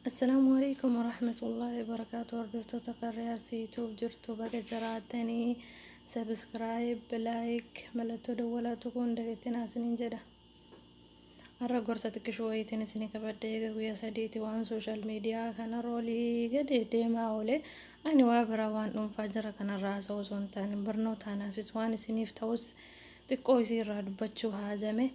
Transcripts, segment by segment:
Assalaamu alaikum warahmatullahi wabarakaatu hordoftoota karree arsii yutuub jirtu baga jiraatanii sabiskiraayib laayik mallattoo dawwalaa tuquun dagattinaa isiniin jedha har'a gorsa xiqqishuu wayiitiin isinii qabadde eega guyyaa sadiiti waan sooshaal miidiyaa kana roolii gadi deemaa oole ani waa biraa waan dhuunfaa jira kanarraa haasa'uu osoo hin taane barnootaanaafis waan isiniif ta'us Xiqqoo isii irraa dubbachuu haajame.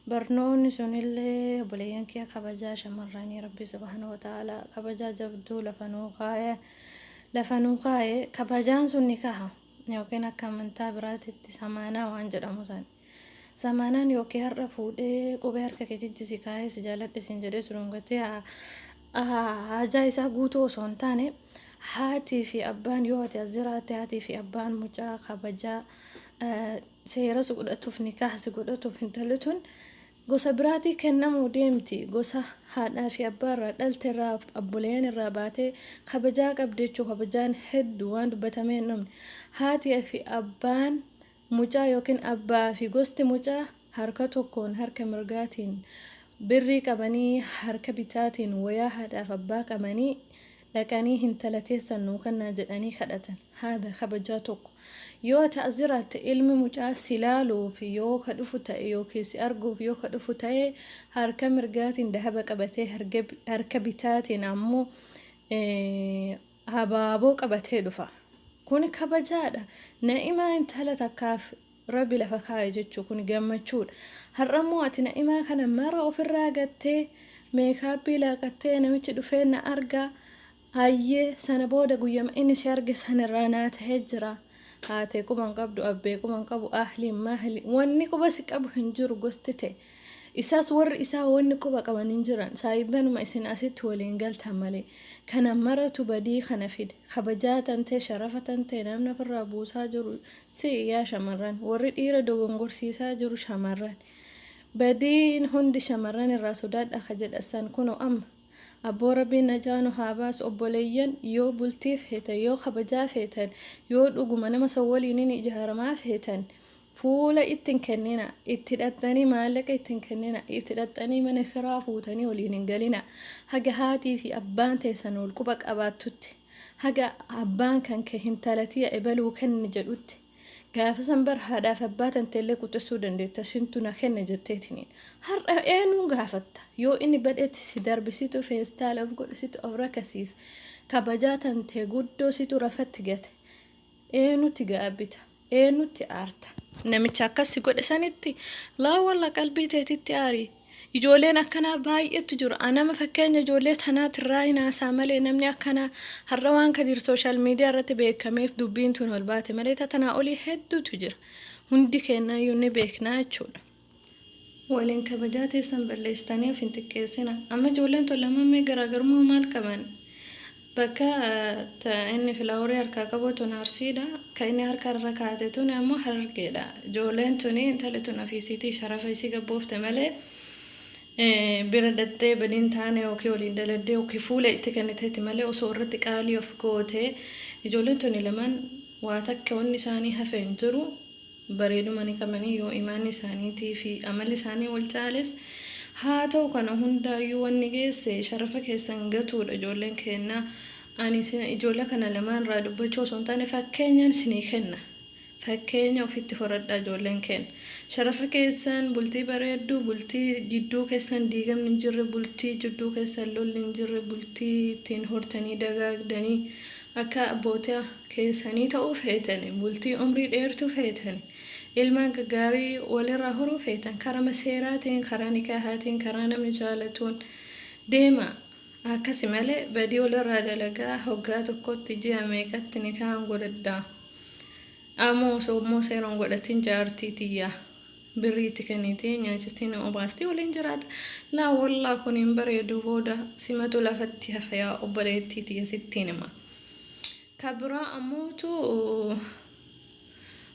Barnoonni sunillee obboleeyyan kiyya kabajaa shamarranii Rabbi subhaanahu wa ta'aalaa kabajaa jabduu lafa nuu kaaye. Lafa nuu kaaye kabajaan sun nikaha yookiin akka amantaa biraatitti samaanaa waan jedhamu san. Samaanaan yookiin har'a fuudhee qubee harka kee jijji si kaayee si jaaladhe siin jedhee si dhungatee haajaa isaa guutuu osoo hin taane haatii fi abbaan yoo ati as jiraatte haatii fi abbaan mucaa kabajaa eh, seera si godhatuuf nikaah si godhatuuf intalli tun gosa biraatii kennamuu deemti gosa haadhaa fi abbaa irraa dhalte irraa abboleeyyan irraa baatee kabajaa qabdi jechuu kabajaan hedduu waan dubbatamee hin dhumne haatii fi abbaan mucaa yookiin abbaa fi gosti mucaa harka tokkoon harka mirgaatiin birrii qabanii harka bitaatiin wayaa haadhaaf abbaa qabanii dhaqanii hintala teessan nuu kennaa jedhanii kadhatan haada kabajaa tokko yoo ta'a jiraatte ilmi mucaa si laaluuf yoo ka dhufu ta'e yookiin si arguuf yoo ka dhufu ta'e harka mirgaatiin dahaba qabatee harka bitaatiin ammoo Abaaboo qabatee dhufa. Kuni kabajaadha. Na'imaa intala takkaaf Rabbi lafa kaaye jechuu kuni gammachuudha. Har'ammoo ati na'imaa kana mara ofirraa gattee meekaappii laaqattee namichi dhufee na argaa hayyee sana booda guyyama inni si arge sanirraa naa ta'ee jira. Haatee quba hin qabdu abbee quba hin qabu ahliin maahli wanni quba si qabu hin jiru gosti ta'e. Isaas warri isaa wanni quba qaban hin jiran, saahibbanuma isin asitti waliin galtan malee. Kana maratu badii kana fide. Kabajaa tantee, sharafa tantee namni ofirraa buusaa jiru si'i yaa shamarran. Warri dhiira dogongorsiisaa jiru shamarran. Badiin hundi shamarran irraa sodaadhaa ka jedhan san kunoo amma. Abboo Rabbiin najaa nu haa baasu. Obboleeyyan yoo bultii feetan, yoo kabajaa feetan, yoo dhuguma nama san waliin hin ijaaramaa feetan, Fuula itti hin kennina. Itti dhaxxanii maallaqa itti hin kennina. Itti dhaxxanii mana kiraa fuutanii waliin hin galina. Haga haatii fi abbaan teessan wal quba qabaattutti. Haga abbaan kan kee hintala tiya ebaluu kenni jedhutti. Gaafa san bar haadhaaf abbaa tanteellee quxissuu dandeetta sintu na kenne jetteetiniin. Har'a eenuun gaafatta? Yoo inni badhetti si darbi situ feestaala of godhe situ of rakasiise. Kabajaa tantee guddoo situ rafatti gate. Eenutti gaabbita? Eenutti aarta? Namicha akkas si godhe sanitti laa walla qalbii teetitti aari. Ijooleen akkanaa baay'eetu jiru. Anama fakkeenya ijoollee tanaatirraa hin haasaa malee namni akkanaa har'a waan Kadiir sooshaal miidiyaa irratti beekameef dubbiin tun ol baate malee tatanaa olii hedduutu jira. Hundi keenyaayyuu ni beeknaa jechuudha. Waliin kabajaa teessan balleessitanii of hin xiqqeessina. Amma ijoolleen tun lamaan mee garaagarummaa maal qaban? Bakka ta inni filaaworii harkaa qabu tun Arsiidha. Ka inni harka irra kaa'ate tun ammoo Harargeedha. Ijoolleen tuni intalli tun ofiisiitii sharafa isii gabboofte malee bira dhaxxee badiin taane yookiin waliin daladdee yookiin fuula itti kenniteeti malee osoo irratti qaalii of goote ijoolleen tuni lamaan waa takka wanni isaanii hafe hin jiru. bareeduma ni qabani yoo imaanni isaaniitii fi amalli isaanii wal caales, haa ta'u kana hundaayyuu wanni geesse sharafa keessan gatuudha ijoolleen keenna, ani isin ijoolle kana lamaan irraa dubbachuu osoo hin taane fakkeenyaan isinii kenna, fakkeenya ofitti horadhaa ijoolleen keenna sharafa keessan bultii bareeddu, bultii jidduu keessan diigamni hin jirre, bultii jidduu keessan lolli hin jirre, bultii ittiin hortanii dagaagdanii, Akka abboota keessanii ta'uu feetanii, bultii umrii dheertuu feetanii, ilmaan gaggaarii wal irraa horuu feetan, karama seeraatiin, karaa nikaahaatiin, karaa namni jaalatuun deemaa. Akkasi malee badii wal irraa dalagaa hoggaa tokkotti ji'a meeqatti nikaahan godhadhaa? Amoo osoo immoo seera hin godhatin jaartii tiyya. Birrii itti kennitee nyaachistee na obaastee waliin jiraata. Laa wollaah kun hin bareedu booda simatu lafatti hafa yaa obboleettii tiyya sittiin hima. Ka biraa ammootu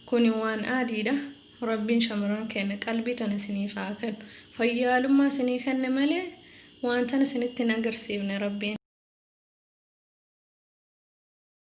kuni waan aadiidha. Rabbiin shamarran keenna qalbii tana isiniif haa kennu. Fayyaalummaa isinii kenne malee waan tana isinitti hin agarsiifne Rabbiin.